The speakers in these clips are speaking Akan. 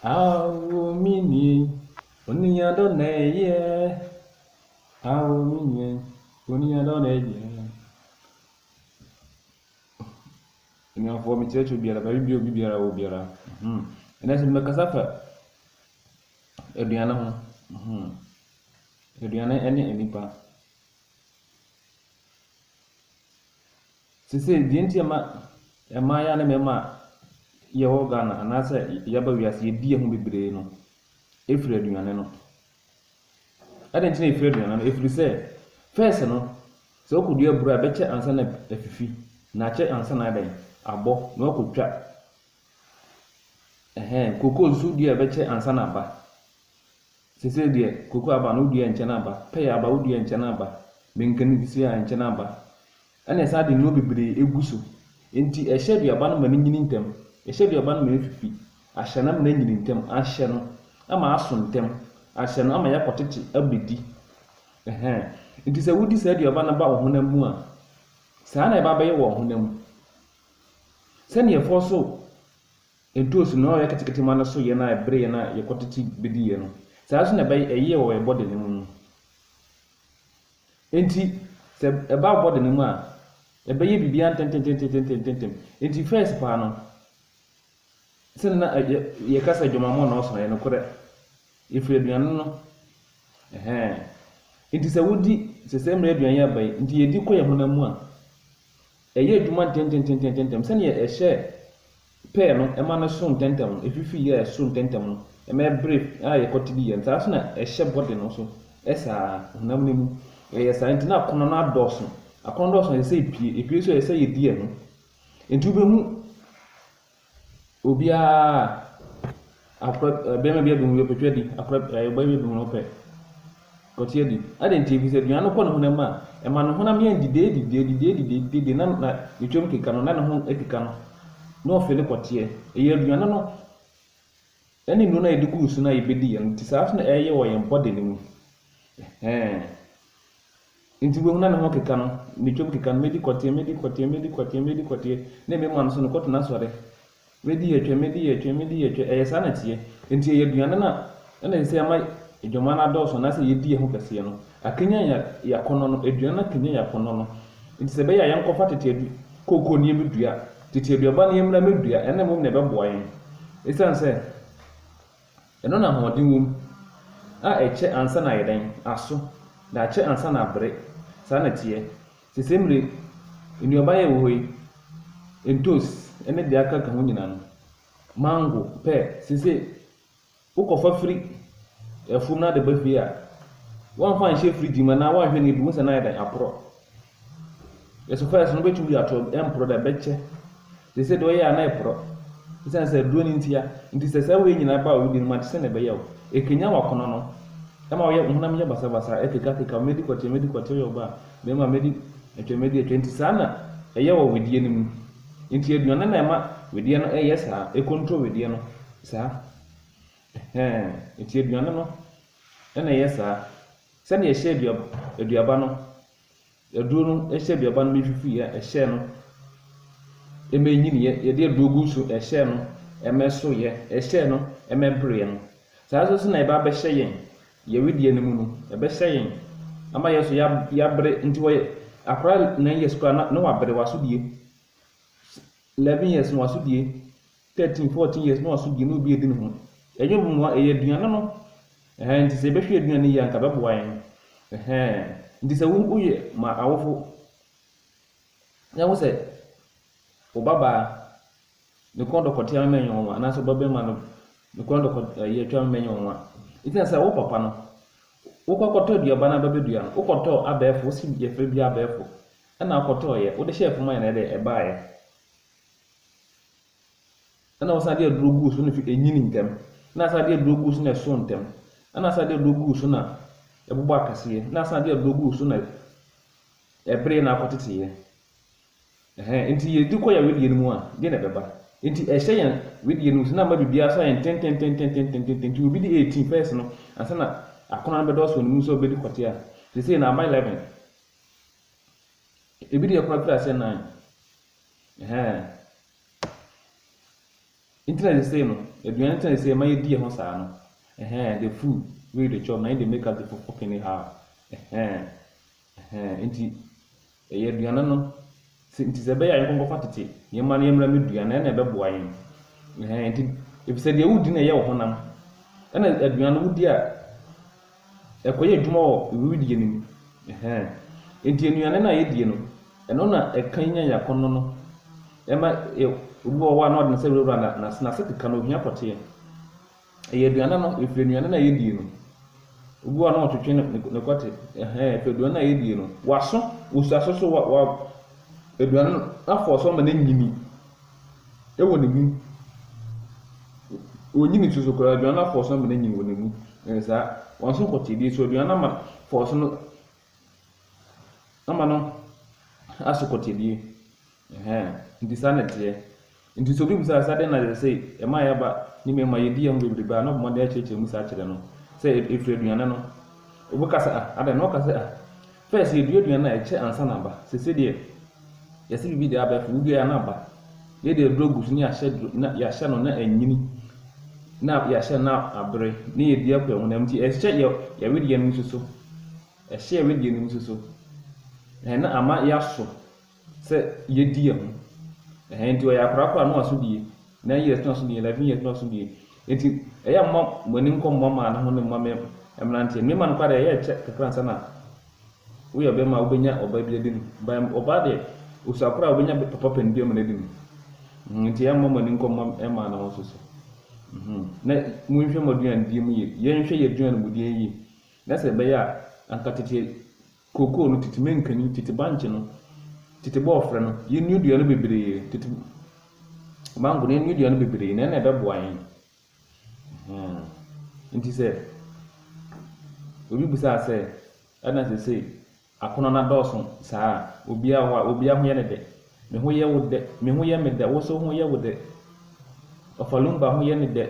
Awo me nua yi, onua dɔ na ɛyɛ. Awo me nua yi, onua dɔ na ɛyɛ. Anuafoɔ mekyerɛkyerɛ obiara, baabi bi obi biara wɔ biara. Mhm. Ɛnna sɛ mɛkasa fa aduane ho. Mhm. Aduane ne nnipa. Sesei, deɛ nti a ɛma mmaayaa ne mmarima a yɛwɔ Ghana anaasɛ yɛaba wiase yɛdi yɛn ho bebree no, ɛfiri aduane no. Adɛn nti na ɛfiri aduane no? Ɛfiri sɛ, first no, sɛ wokɔdua aburo a, ɛbɛkyɛ ansa na afifi, na akyɛ ansa na adɛn, abɔ, na woakɔtwa. Ɛhɛn, kokoo nso wodua a ɛbɛkyɛ ansa na aba. Sesei deɛ, koko aba no woduaa nkyɛn aba, pɛya aba woduaa nkyɛn aba, menken nso a nkyɛn aba, ɛna ɛsan de nnuro bebree egu so. Enti ɛhyɛ aduaba no ma no nyini ntɛm, ɛhyɛ aduaba no ma efifi, ahyɛ no ama no anyini ntɛm, ahyɛ no ama aso ntɛm, ahyɛ no ama yɛakɔtete abedi. Ɛhɛn. Enti sɛ wodi saa aduaba no ba wo honam mu a, saa na ɛba bɛyɛ wɔ ɔhonam mu. Sɛnea ɛfɔɔ so. Ntoosi no, na ɔyɛ ketekete ma no so yɛn a ɛbere yɛn a yɛkɔtete bediiɛ no. Saa ara nso na ɛyɛɛ wɔ yɛn bɔde no mu no. Enti, sɛ ɛba bɔde no mu a, ɛbɛyɛ biribiara ntɛmntɛmntɛmntɛmntɛmntɛmntɛm. Enti first paa no, sɛdeɛ na yɛ yɛka sɛ adwamammɔ na ɔso no, ɛyɛ nokorɛ. Yɛfiri aduane no, ɛhɛɛ. Enti sɛ wodi, sɛ saa mmerɛ aduane yi aba yi, nti yɛdi kɔ yɛn honam mu a, Ɛyɛɛ adwuma ntɛntɛntɛntɛntɛm, sɛdeɛ ɛhyɛ pɛɛ no ma no so ntɛntɛm no, ɛfifi yɛ so ntɛntɛm no ma ɛbere a yɛkɔte bi yɛ no, saa ara nso na ɛhyɛ body no so saa ara, honam no mu. Ɛyɛ saa nti na akɔnnɔ no adɔɔso. Akɔnnɔ dɔɔso a, ɛsɛ sɛ ɛpue. Ɛpue nso a, ɛsɛ sɛ yɛdi ɛho. Nti wobɛhu Obiara a akora barima bi abɛhu yɛ ɔpɛtwa di akora ɔbaa bi abɛhu ɔpɛ ɔte adi adan nti ebi sɛ aduane no kɔ ne honam a ɛma ne honam yɛn didi edi didi edi didi edi didi edi na na ne twam keka no na ne ho adi ka no na ɔfɛ ne kɔteɛ ɛyɛ aduane no ɛne nnuro no a yɛde gu so no a yɛbɛdi yɛn ti saa so na ɛyɛ wɔ yɛn body no mu ɛhɛn. Enti wubehunu na ne ho keka no, metwam keka no, medi kɔteɛ, medi kɔteɛ, medi kɔteɛ, medi kɔteɛ, na ebe man so no, kɔtena sɔre. Medi yɛ twɛ, medi yɛ twɛ, medi yɛ twɛ, ɛyɛ saa na ɛteɛ. Enti ɛyɛ aduane no a na ɛsɛ sɛ ɛma adwaman no adɔɔso anaasɛ yedi ɛho kɛseɛ no, akanyan yɛn yɛn akɔnnɔ no, aduane no akanyan yɛn akɔnnɔ no. Enti sɛ ɛbɛyɛ a yɛnkɔfa tete adu kooko no yɛmmedua, tete aduaba no yɛmmra mmedua, ɛno na mmom na ɛbɛboa yɛn. Esiane sɛ. Ɛno na ahoɔden wom a ɛkyɛ ansa na ayɛ dɛn? Aso, daakye ansa na abere. Saa na ɛteɛ. Sese mmere, nnuaba a ɛwɔ hɔ yi, ntos ne deɛ aka ka ho nyinaa no, mango, pɛ, sese wokɔfa firi afuom na wode ba fie a, woamfa anhyɛ fridge mu anaa woanhwɛ no a, ɛbɛhu sɛ na ayɛ dɛn? Aporɔ. Yɛsɛ first no wobɛtumi de ato ɛmporɔ da bɛkyɛ te sɛ deɛ ɔyɛ a na ɛporɔ ɛsiane sɛ aduro no ntia nti sɛ saa wei nyinaa ba a wodi no mu a te sɛ na ɛbɛyɛ wo ɛkanyan w'akɔnɔ no ɛma woyɛ wo honam yɛ basabasa ɛkekakeka wo mɛdi kɔteɛ mɛdi kɔteɛ woyɛ ɔbaa bɛrima mɛdi atwa mɛdi atwa nti saa na ɛyɛ wɔ wedeɛ no mu nti aduane no na ɛma wedeɛ no ɛyɛ saa ɛkontrol wedeɛ no saa ɛhɛn nti aduane no ɛna ɛyɛ saa sɛdeɛ ɛhyɛ aduaba no Aduro no hyɛ aduaba no mfifi a ɛhyɛɛ no ma ɛnyiniiɛ, yɛde aduro gu so ɛhyɛɛ no ma ɛsoeɛ, ɛhyɛɛ no ma ɛbereeɛ no, saa nso so na ɛba abɛhyɛ yɛn, yɛn wedeɛ no mu no, ɛbɛhyɛ yɛn ama yɛn nso yɛabere, nti wɔyɛ akwadaa nine years koraa na wabere, wasodie, eleven years no wasodie. 13 14 years no asodie na obi edi ne ho ɛnyɛ mmoa ɛyɛ aduane no ɛhɛn nti sɛ yɛbɛhwɛ aduane no yie anka bɛboa yɛn ɛhɛn nti sɛ wo woyɛ ma awofo na wo sɛ wo babaa ne kɔn dɔkɔtea mɛmɛ nyɛ wɔn anaasɛ ɔba bɛrima no ne kɔn dɔkɔ ɛyɛ atwa mɛmɛ nyɛ wɔn nti na sɛ wo papa no wokɔ akɔtɔ aduaba no abɛbɛdua no wokɔtɔ abɛɛfo wosi yɛfrɛ bi abɛɛfo ɛna akɔtɔɔyɛ wode hyɛɛ fam ayɛ na ɛdɛ ɛbaayɛ Ɛna wɔsan de aduro guu so na ɛfi ɛnyini ntɛm. Ɛna asan de aduro guu so na ɛso ntɛm. Ɛna asan de aduro guu so na ɛbobɔ akɛseɛ. Ɛna asan de aduro guu so na ɛbere na akɔteteeɛ. Ɛhɛn, nti yɛdi kɔ yɛ wedeɛ no mu a, deɛ na ɛbɛba? Nti ɛhyɛ yɛn wedeɛ no mu sɛ na ama biribiara so ayɛ ntententententententen. Nti obi de 18 pɛs no ansa na akɔnnɔ no bɛdɔɔso wɔ ne mu sɛ ɔbɛdi kɔte a, seesei na ama 11. Ebi deɛ koraa pira sɛ 9. Ɛhɛn. Ntsi na sesei no, eduan ntsi na sesei ma yedii ho saa no. Ɛhɛn, the food wey you dey chop na im dey make us dey fo fo kene ha o. Ɛhɛn. Ɛhɛn. Ntsi, yɛ eduan no, se ntsi sɛ ɛbɛyɛ a yɛnkɔ nkɔfa tete nneɛma no yɛmmra mmedua na ɛnna ɛbɛboa yɛn. Ɛhɛn. Ntsi, efisɛ deɛ wodi no na ɛyɛ wo honam, ɛnna aduan no wodi a, Ɛkɔyɛ adwuma wɔ wiridie no mu. Ɛhɛn. Enti nnuane no a yɛdie no, ɛno na ɛkanyan yɛn akɔnnɔ no. Ɛma yɛ, obi wɔ hɔ a na ɔde ne nsa wurawura na, n'ase, n'ase keka no, ohia pɔteɛ. Ɛyɛ aduane no, ɛfiri nnuane no a yɛdie no. Obi wɔ hɔ a na ɔtwetwe ne, ne, ne kɔte. Ɛhɛn, ɛfiri aduane no a yɛdie no. W'aso, osi aso so, wa, wa, aduane no afɔ so ama no anyini. wɔ ne mu. Onnyi ne su so koraa, aduan no afɔɔso ama no anyin wɔ ne mu. Ɛyɛ saa. Wɔaso kɔtee bi nso, aduan no ama fɔɔso no ama no aso kɔtee bi. Ɛhɛn. Nti saa na ɛteɛ. Nti sɛ obi bisa sɛ adɛn na ɛsɛ sɛ ɛma yɛn aba ne mmarima yedi yɛn ho bebrebe a, na ɔbɔ mmɔden akyerɛkyerɛ mu saa kyerɛ no sɛ ɛfiri aduane no. Obi ka sɛ ah, adɛn? Na ɔka sɛ ah, First yɛdua aduane a ɛkyɛ ansa na aba. Sese deɛ yɛse biribi deɛ aba afei woduaeɛ a na aba. Yei deɛ duro gu so na yɛahyɛ duro na yɛahyɛ no na anyini na yɛahyɛ no na abere na yɛdi akɔ ɛhonam nti ɛhyɛ yɛ yɛwedeɛ no nso so. Ɛhyɛ yɛwedeɛ no nso so. Ɛhɛn na ama yɛaso. sɛ yɛdi yɛn ho ɛhɛn nti ɔyɛ akwadaa koraa no waso bie nine years no waso bie eleven years no waso bie nti ɛyɛ mma mo ani nkɔ mma maa no ho ne mma mɛ mmeranteɛ mmarima no koraa deɛ ɛyɛ ɛkyɛ kakra nsa na woyɛ ɔbɛrima a wobɛnya ɔbaa bi adi no ba ɔbaa deɛ osua koraa wobɛnya papa panin bi ama no adi no mhm, nti ɛyɛ mma mo ani nkɔ mma mmaa no ho so so mhm. na monhwɛ mo aduane die mu yie yɛnhwɛ yɛ aduane mu die yie na sɛ ɛbɛyɛ a anka tete Kookoo no, tete mankani, tete bankye no, tete bɔɔfrɛ no, yɛn nnuadua no bebree, tete mango no, yɛn nnuadua no bebree, na ɛna ɛbɛboa yɛn. Nti sɛ obi bisaa sɛ, ɛna sɛ sɛ akɔnɔ no adɔɔso saa a, obiara hɔ a, obiara ho yɛ ne dɛ. Me ho yɛ wo dɛ, me ho yɛ me dɛ, wo nso ho yɛ wo dɛ. Ɔfalumba ho yɛ ne dɛ.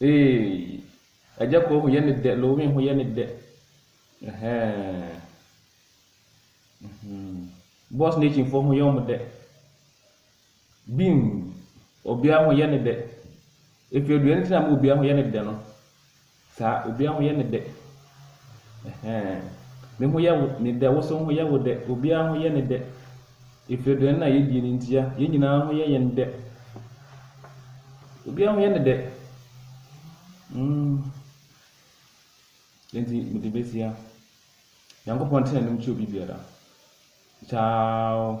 Eeii Agya Koo ho yɛ no dɛ, Lowin ho yɛ no dɛ Ɛhɛɛɛɛ mm-hmm Boss Nation foɔ ho yɛ wɔn dɛ Bim Obiara ho yɛ no dɛ Efiedure no nti na ama obiara ho yɛ no dɛ no Saa obia ho yɛ no dɛ ɛhɛɛ me ho yɛ wo ne dɛ woso ho yɛ wo dɛ obia ho yɛ no dɛ efiri dɛn na yɛdie no ntia yɛn nyinaa ho yɛ yɛn dɛ obia ho yɛ no dɛ mm enti mede bɛsia nyankopɔn tena anim kyɛ obi biara kyaaw.